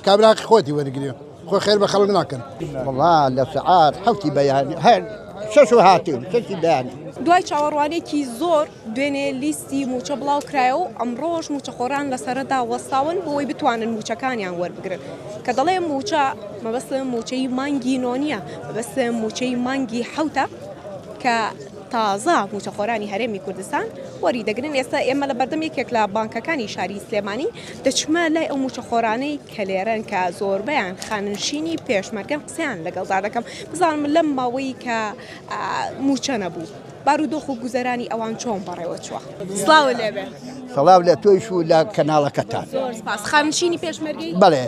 کابرا هەقی خۆتی وەرگرێ خۆ خێر بە خەڵک ناکەن وڵا لە سعات حوتی بەیان هەر شەش و هاتیم کەسی بەیانی دوای چاوەڕوانێکی زۆر دوێنێ لیستی موچە بڵاو کرایە و ئەمڕۆژ موچەخۆران لەسەردا وەستاون بۆی بتوانن موچەکانیان وەربگرن کە دەڵێ موچە مەبەست موچەی مانگی نۆنیە بەس موچەی مانگی حوتە کە تازە موچەخۆرانی هەرێمی کوردستان وەری دەگرن ئێستا ئێمە لە بەردەم یەکێک لە بانکەکانی شاری سلێمانی دەچمە لای ئەو مووچەخۆرانەی کە لێرەن کە زۆربەیان خانەنشینی پێشمەرگەن قسەیان لەگەڵدا دەکەم بزانم لەم ماوەی کە مووچە نەبوو بارودۆخ و گوزەرانی ئەوان چۆن بەڕێوە چووە سڵاو لێبێ سڵاو لە تۆیش و لە کەناڵەکەتان خانشینی پێشمەرگی بڵێ.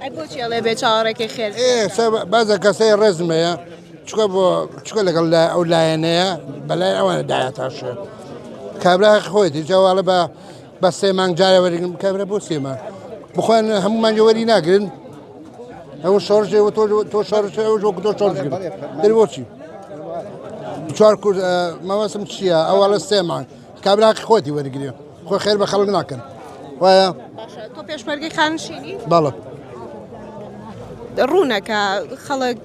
ئەی بۆچی ئەڵێ بێ چاوەڕێکەی خێر بازە کەسەی ڕێزم هەیە چکە بۆ چکە لەگەڵ لای ئەو لایەنەیە بەلای ئەوانە داهاتاشێ کابرا خۆیتی جاواڵە بە بە سێ مانگ جارە وەرگم کابرا بۆ سێمان بخۆن هەمومان جوەری ناگرن ئەو شارژێ و تۆ تۆ شارژ ئەو ژۆک تۆ شارژ دەروەچی چوار کورد مەوەسم چییە ئەوواڵە سێمان کابراقی خۆتی وەرگێ خۆ خێر بە خەڵک ناکەن وایە تۆ پێشمەرگی خانشینی بەڵە ڕوونەکە خەڵک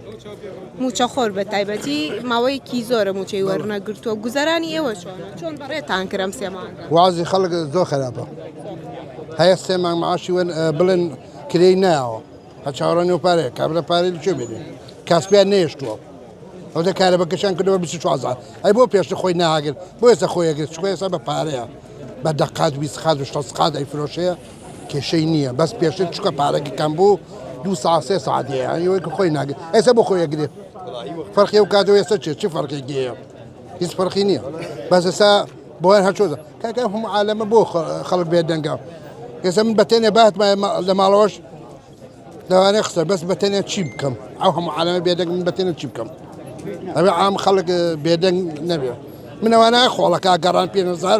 موچە خۆر بە تایبەتی ماوەیەکی زۆرە موچەی وەرنەگرتووە گوزەرانی ئێوە چۆن چۆن بەڕێتان کرم سێمان وازی خەڵک زۆر خراپە هەیە سێمان معاشی وەن بڵێن کرێی ناوە هە چاوەڕێ نێو پارەیە کابرا پارەی لە کوێ بێنێ کاسپیان نەهێشتووە ئەو دە کارە بەکەشان کردەوە 24 هەزار ئەی بۆ پێشتر خۆی ناگرت بۆ ئێستا خۆی ئەگرێت چکۆ ئێستا بە پارەیە بە دەقات ویست قات و شەست قات ئەیفرۆشەیە کێشەی نییە بەس پێشتر چکە پارەکە کەم بوو دوو ساعت سێ ساعت هەیە یەوەی کە خۆی ناگرێت ئێستا بۆ خۆی ئەگرێت فەرقی ئەو کات و ئێستا چێ چی فەرقێکی هەیە هیچ فەرقی نییە بەس ئێستا بۆیان هەرچۆزە کاکە هەموو عالەمە بۆ خەڵک بێت دەنگە ئێستا من بەتێنێ بات لە ماڵەوەش لەوانەیە قسە بەس بەتێنێ چی بکەم ئەو هەموو عالەمە بێدەنگ من بەتێنە چی بکەم ئەوێ عام خەڵک بێدەنگ نەبێ منەوانە خۆڵەکە گەڕان پێنەزار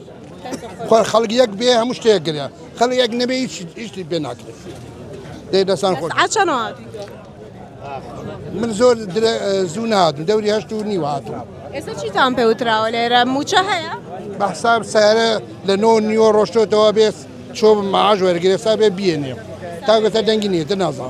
خۆر خەڵک یەک بێ هەموو شتێک گرە خەڵک یەک نەبێ هیچ هیچی پێ ناکرێت دەی دەسان خۆش سعات چەنەوە هاتووی تۆ؟ من زۆر درە- زوو نهاتم دەوری هەشت و نیو هاتم ئێستا چیتان پێ وتراوە لێرە موچە هەیە؟ بە حساب سارە لە نۆ نیوە ڕۆشتۆتەوە بێت چۆ معاش وەرگێسا بێ بیێنێ تا گوتە دەنگی نیێتە نازان